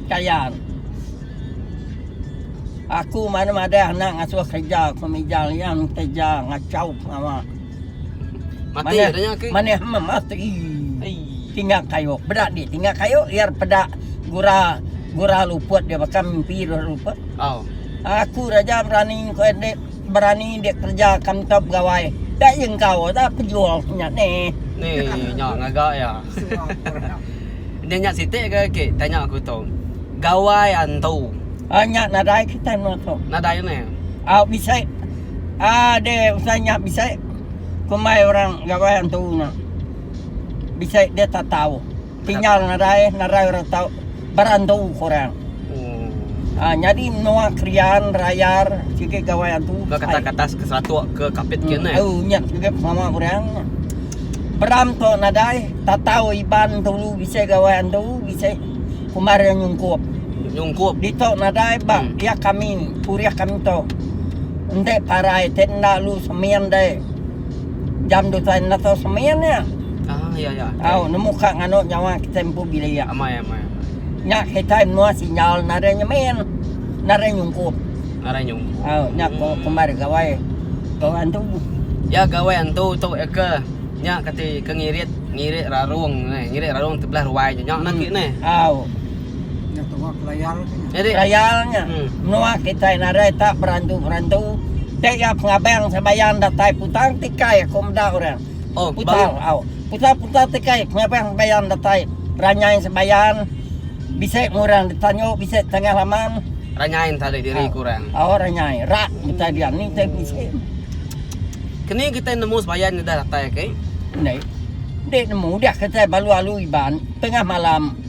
Kayal. Aku mari madah anak ngasuh kerja ke mija lian kerja ngachau pengawa. Manih manih meh mati. Tinggal kayu. Beda di tinggal kayu iar peda gura gura luput dia baka mimpi gura luput. Aku raja berani ku ende berani dia kerja kam tau begawai. Dak ye engkau dak pejul nya neh. Neh nya ngaga ya. Nya nya siti ke ke tanya aku tu. Gawai antu. Ah nya nadai kitai menoa tu. Nadai ne. Ah bisi ah de usai nya bisi kumbai orang gawai antu nya. Bisi de tak tau. Tinggal nadai nadai orang tau. Berantu korang. Oh. Ah nyadi menua Krian, Rayar, sigi gawai antu. Ke kata kata ke seratok ke kapit ke ne. Oh nya sigi pengawa korang. Beram to nadai tatau Iban tulu bisi gawai antu bisi kumbar iya nyungkup. Nyungkup dito nadai ba hmm. iya kami purih kami to. Ente parai te enda lu semin dai. jam tu tuan enda tau semen iya. Ah ya ya. Au nemu ka nganu nyawa kita empu bilik. Amai amai. Nya kita menua sinjal nare nyemen. Nare nyungkup. Nare nyungkup. Au nya ko hmm. kembar gawai. Gawai antu. Ya gawai antu tu ya ke. Nya kati ke ngirit ngirit rarung eh. Ngirit rarung tebelah ruai nya nya hmm. lagi ni. Au. Nya tu wak layal nya. Jadi layal nya. Hmm. Menua kitai nadai tak berantu-berantu. Dek ya pengabang sembayang datai putang tikai aku meda orang. Oh, putang. Au. Putang-putang tikai pengabang sembayang datai. Ranyai sembayang. Bisa orang ditanyo, bisa tengah laman. Ranyai tadi diri ah. kurang. Oh, ranyai. Rak kita dia ni kita bisa. Kini kita nemu sembayang ni dah datai ke? Okay? Ni. Dek nemu dah kita balu-alu iban tengah malam.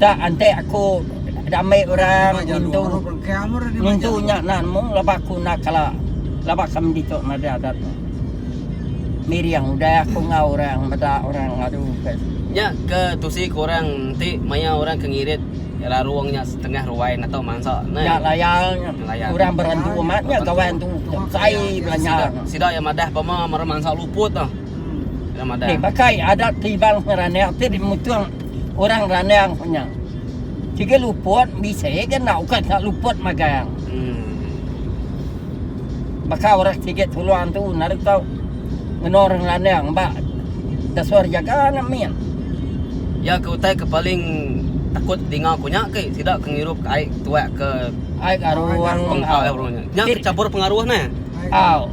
Ka antek aku diambi orang ngintu ngintu nya enda nemu laban aku enda kala laban kami ditu enda ada adat nya. Miring udah aku enggau orang meda orang ngadu ke. Nya ke tusi ku orang enti maya orang ke ngirit larung nya setengah ruai natau mansa neh. Nya laya nya orang berendu amat nya gawa endu sai belanja nya. Sida iya madah pama mara mansa luput tu. Ira madah. Ti baka adat ti Iban ngeranak ti dimutung. orang randang ko nya. Sigi luput bisi ga enda ukat ka luput magang. Hmm. Baka orang sigi tuluang tu naru tau ngeno orang randang ba dasor jaga na min. Ya ke utai ke paling takut dinga ko nya ke sida ke ngirup ka ai tuak ke ai ka ruang. Nya ke campur pengaruh ne. Au.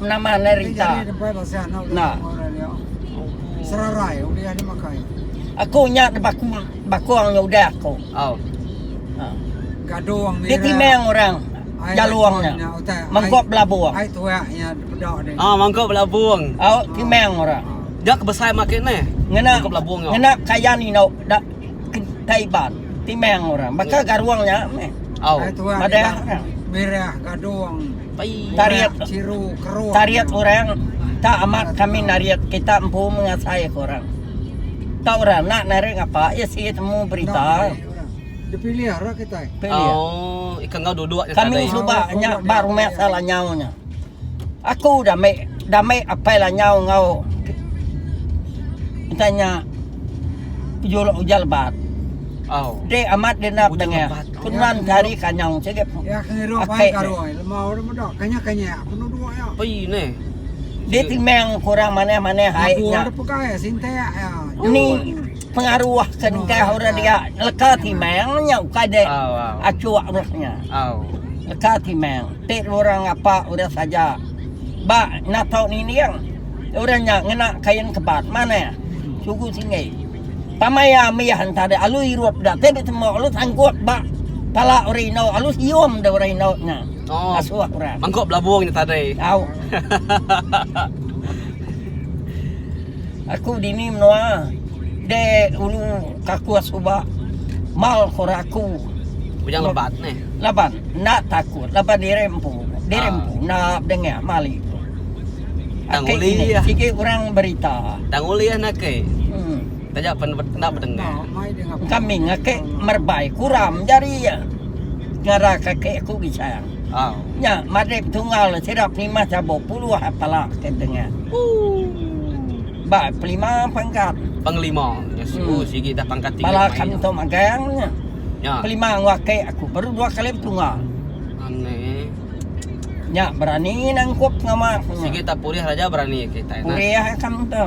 Nama ne rita. Nah. Serarai udah ni makai. Aku nya de bakung bakung nya udah aku. Oh. Ha. Gadung ni. Dia timang orang. Jaluang nya. Mangkok belabung. Ai tuak nya bedak ni. Ah, mangkok belabung. Oh, timang orang. Dia kebesai makin ni. Ngena belabung. Ngena kaya ni nak Kaiban, Timang orang. Baka garuang nya meh. Au. Hari tua Madah. Madah. Madah. Mirah, gadung, Pai. Tarik. Murah, ciru, keruh. Tarik orang tak amat kami narik kita empu mengasai ke orang. Tak orang nak narik ngapa isi temu berita. Nak narik orang. Dipilih ra kitai. Pilih. Au, ika enggau duduk nya Kami tadai. suba Au, nya udah ba rumah diatur. salah nyau nya. Aku udah meh udah meh apai lanyau enggau enta nya ujur ujar lebat. Dek amat dia enda pedengah. Ku nuan ke hari ke anyau sigi ake deh. Dia timang ke orang manah manah ai nya. Ni. pengaruh ke engkah orang dia leka timang nya ukai dek acuk roh nya leka timang ti orang ngapa orang saja ba natau nining orang nya ngena kain kebat manah sugu tinggi pamaya mih enta dek alu irup da ti betemu alu sanggup ba pala orang inu alu sium da orang inu nya asuh orang mangku belabung nya tadai au. Aku dini menoa de ulu kaku asuba mal kora aku. Bujang lebat ne. Laban enda takut laban diri empu. Diri ah. empu enda dengah mali. Tang uli ya. Sigi orang berita. Tang uli ya nak ke. Hmm. Taja pen enda berdengar. Kami ngake merbai kuram jari ya. Ngara kaki aku bicara. Nya madep tunggal sida penimah chabuk puluh pala ke tengah. Ba pelima pangkat. Pengelima nya siku hmm. sigi dah pangkat tiga. Pala kanto magang nya. Ya. Pelima ngwake aku baru dua kali tunggal. Aneh. Nya berani nangkup ngamak. Sigi tak purih raja berani kita. Purih kam tu.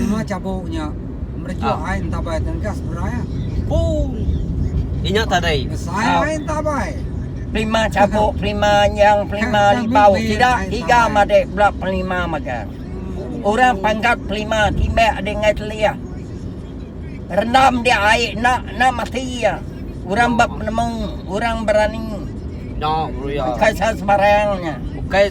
Lima cabuknya. Merejok ai entabai tang gas berai ah. Puh. Inya tadi. Besai ai entabai. Pelima cabuk, pelima nyang, pelima libau. Sida tiga madik bela pelima magang. Orang panggat pelima timbak adi ngai telih. Rendam dia ai enda enda mati iya. Orang ba penemu, orang berani. Enda ngeruya. Bukai sains barang nya. Bukai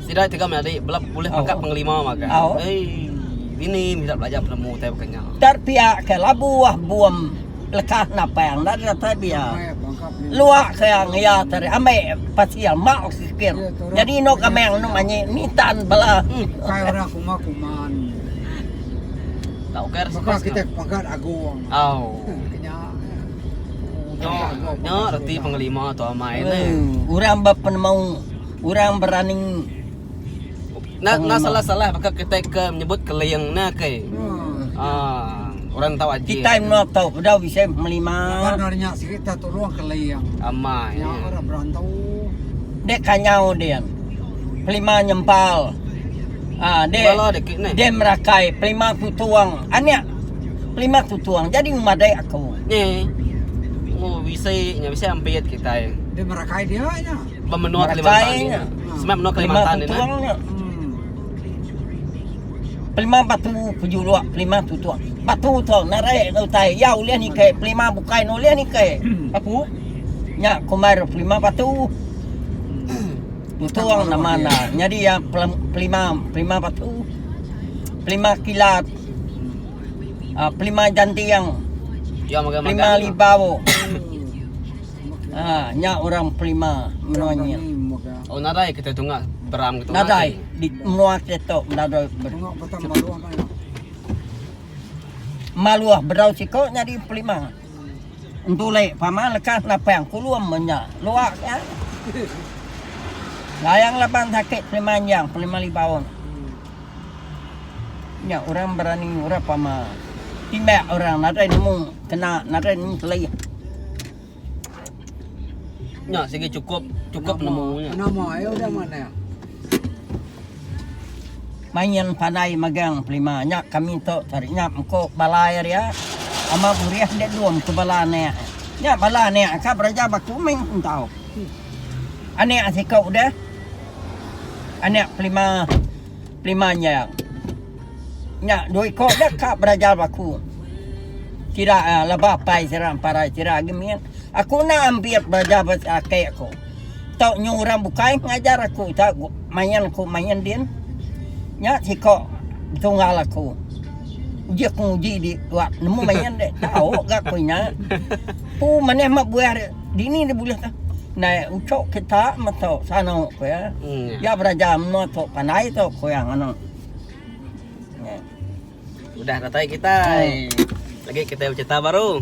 Sida tega menyadi bela ulih pangkat oh. pengelima maga. Oh. Hey, bini mesti belajar penemu tai bukan nya. Tar pia ke labu wah buam lekah napang dan rata dia. Luak ke yang ia tadi ambil pasia mak sikir. Jadi no kameng no manyi nitan bela. Hmm. Kai orang kuma kuman. Tak ukir sepas kita pagat agung. Oh. Nya, nya reti pengelima tu amai ni. Hmm. Orang berpenemu. Orang berani Enda enda salah salah baka kitai ke menyebut keling ne kai. Ha orang ntau aje. Kitai mno tau bedau bisi melima. Laban orang nya sigi ta tulung keling. Amai. Nya orang berantu. Dek kanyau dia. Pelima nyempal. Ha dek. Bala dek ni. Dek merakai pelima tutuang. Anak pelima tutuang jadi memadai aku. Ni. Oh bisi nya bisi ampit kitai. Dek merakai dia nya. Bemenua Kalimantan ni. Semak menua Kalimantan ni. Tuang ni. Pelima batu pejuluk, pelima tu tuang. Batu tu narai ke utai. Ya ulih ni ke pelima bukai ni ulih ni ke. Apu. Nya kumar pelima batu. Tuang nama na. Nyadi ya pelima pelima batu. Pelima kilat. Ah, pelima jantiang. Ya, pelima libau. Ha nya orang Pelima menua nya. Oh nadai kita tunga beram kita. Nadai di menua kita nadai beram. Maluah berau siko nya di Pelima. Entule pama lekas napang kulum menya. Luak ya. Layang laban sakit Pelima yang Pelima Libaun. Nya orang berani ngurap ama timbak orang nadai nemu kena nadai nemu kelih. Nya sigi cukup cukup nemu nya. Nama ai udah manah. Main pandai magang pelima nya kami tu cari nya mko balai ria ama burih dia dom ke bala anak. Nya bala anak ka beraja baku main pun tau. Anak siko udah anak pelima pelima nya nya dua iko da ka berajar ba aku sida laba apai sida parai sida agi min aku enda ambit belajar ba ake aku tau nyu orang bukai ngajar aku tau main aku main din nya siko tunggal aku uji aku nguji di tuak nemu main de tau ga aku nya ku manah meh buah de. Dini deh bulih ke ndai ucok kita meto sano ku iya. Iya beraja menua tu pandai tu ku iya nganu. Udah datai kitai. Lagi kitai becerita baru.